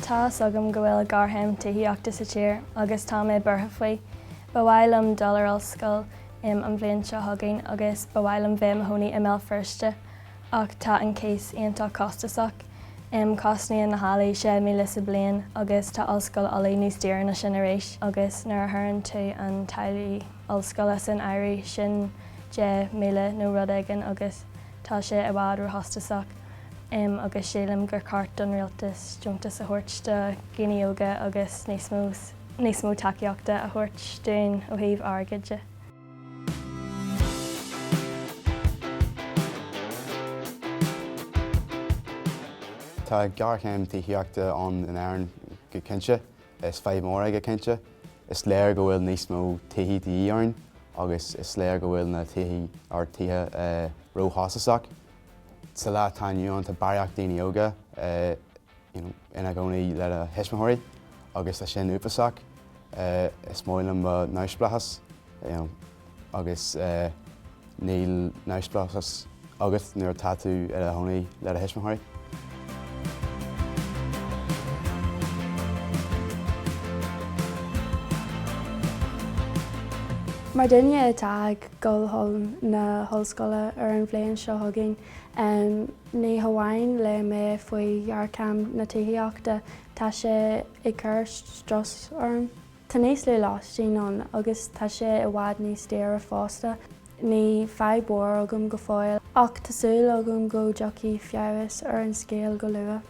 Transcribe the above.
Tá fhios agam go bhfuil géarchéim tithíochta sa tír agus tá mé buartha faoi. Ba mhaith liom dul ar an ollscoil an bhliain seo chugainn agus ba mhaith liom bheith i mo chónaí i mBéal Feirste. Ach tá an cíos iontach costasach. Cosnaíonn na hallaí 6,000 sa bliain agus tá Ollscoil Ulaidh níos daoire ná sin arís agus nuair a chuireann tú na táillí ollscoile san áireamh, sin 10,000 nó rud éigin agus tá sé i bhfad róchostasach agus sílim gur cheart don rialtas deontais a thabhairt do dhaoine óga agus níos mó tacaíochta a thabhairt dúinn ó thaobh airgid de. Tá géarchéim tithíochta ann in Éirinn go cinnte. Is fadhb mhór í go cinnte. Is léir go bhfuil níos mó tithí de dhíth orainn agus is léir go bhfuil na tithí, ár tithe, róchostasach. Sa lá atá inniu ann tá barraíocht daoine óga, ina gcónaí lena thuismitheoirí agus tá sin uafásach. Is maith liom mo neamhspleáchas agus níl neamhspleáchas agat nuair atá tú i do chónaí le do thuismitheoirí. Mar dhuine atá ag dul chun na hollscoile ar an bhliain seo chugainn, Ní hamháin le mé faoi ghéarchéim na tithíochta, tá sé ag cur strus orm. Tá níos lú lóistín ann agus tá sé i bhfad níos daoire fosta. Ní fadhb mhór agam go fóill, ach tá súil agam go dtiocfaidh feabhas ar an scéal go luath.